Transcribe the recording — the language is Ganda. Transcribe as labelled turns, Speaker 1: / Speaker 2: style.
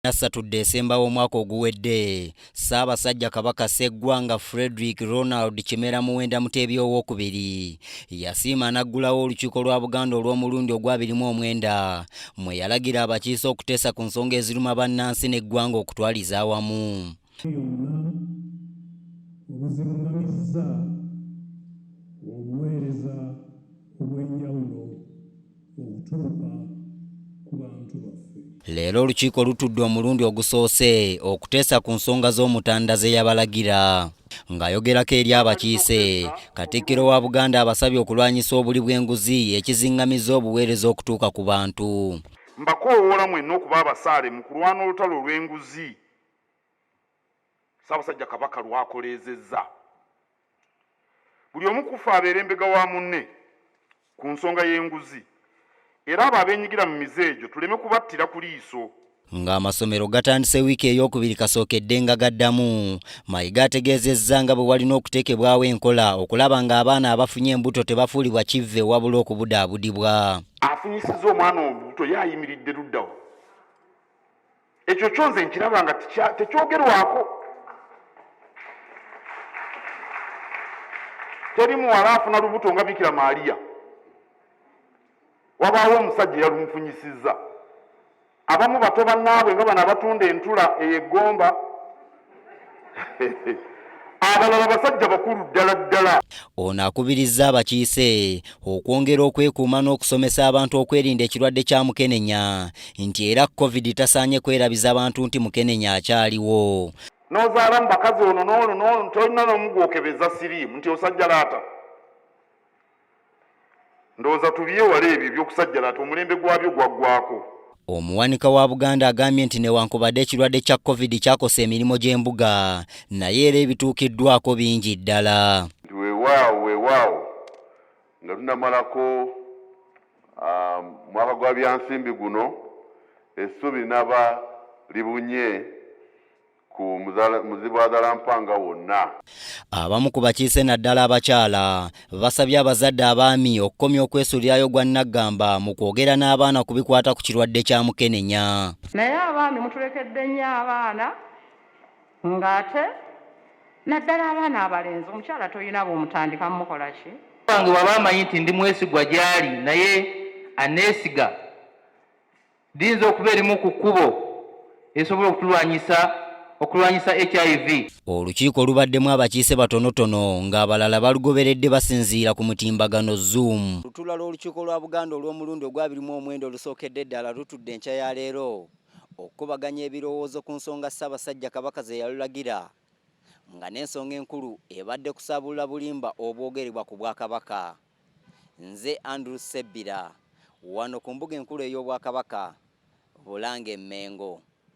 Speaker 1: Nassatudde esemba w'omwaka oguwedde Ssaabasajja Kabaka Sseggwanga Frederick Ronald Kimera Muwenda Muteebi owokubiri yasiima n'aggulawo olukiiko lwa Buganda olw'omulundi ogwabiri mu omwenda mwe yalagira abakiise okuteesa ku nsonga eziruma bannansi n'eggwanga okutwaliza awamu.
Speaker 2: okutuuka ku bantu baffe. Leero olukiiko
Speaker 1: lutudde omulundi ogusoose okuteesa ku nsonga z'Omutanda ze yabalagira. Ng'ayogerako eri abakiise, Katikkiro wa Buganda abasabye okulwanyisa obuli bw'enguzi ekizingamizza obuweereza okutuuka ku bantu. Mbakoowoola
Speaker 3: mwenna okuba abasaale mu kulwana olutalo olw'enguzi Ssaabasajja Kabaka lw'akoleezezza buli omu kuffe abeera embega wa munne ku nsonga y'enguzi era abo abenyigira mu mize egyo tuleme kubattira ku liiso. Ng'amasomero
Speaker 1: gatandise wiiki eyokubiri kasookedde nga gaddamu, Mayiga ategeezezza nga bwe walina okuteekebwawo enkola okulaba ng'abaana abafunye embuto tebafuulibwa kivve wabula okubudaabudibwa. Afunyisizza
Speaker 3: omwana olubuto ye ayimiridde luddawa? ekyo kyo nze nkiraba nga tekyogerwako teri muwala afuna lubuto nga bikira maaliya wabaawo omusajja eyalumufunyisizza abamu bato bannaabwe nga bano abatunda entula eyo eggomba abalala basajja bakulu ddala ddala. Ono akubirizza
Speaker 1: abakiise okwongera okwekuuma n'okusomesa abantu okwerinda ekirwadde kya mukenenya nti era covid tasaanye kwerabiza bantu nti mukenenya akyaliwo. N'ozaala mu
Speaker 3: bakazi ono n'ono n'ono tolina n'omu gwokebeza siriimu nti osajjalaata. ndowooza tubyewala ebyo ebyokusajjala ati omulembe gwabyo gwaggwako. Omuwanika wa
Speaker 1: Buganda agambye nti newankubadde ekirwadde kya covid kyakosa emirimu gy'embuga naye era ebituukiddwako bingi ddala. Nti weewaawo weewaawo
Speaker 4: nga tunamalako um, mwaka gwa byansimbi guno essuubi linaba libunye ku muzibwadala mpanga wonna. Abamu ku
Speaker 1: bakiise naddala abakyala basabye abazadde abaami okukomya okwesulirayo gwa nnaggamba mu kwogera n'abaana ku bikwata ku kirwadde kya mukenenya. Naye abaami
Speaker 5: mutulekedde nnyo abaana ng'ate naddala abaana abalenzi omukyala tolina bwomutandika mukola ki? Wange waba amanyi
Speaker 6: nti ndi mwesigwa gy'ali naye aneesiga Liyinza okuba erimu ku kkubo esobola okutulwanyisa okulwanyisa hiv olukiiko olubaddemu
Speaker 1: abakiise batonotono ng'abalala balugoberedde basinziira ku mutimbagano zoom lutuula lw'olukiiko lwa buganda olw'omulundi ogwabiri mu omwenda olusookedde eddala lutudde enkya ya leero okukubaganya ebirowoozo ku nsonga ssaabasajja kabaka ze yalulagira nga n'ensonga enkulu ebadde kusaabulula bulimba obwogerebwa ku bwakabaka Nze Andrew Ssebbira, wano ku mbuga enkulu ey'Obwakabaka, Bulange Mmengo.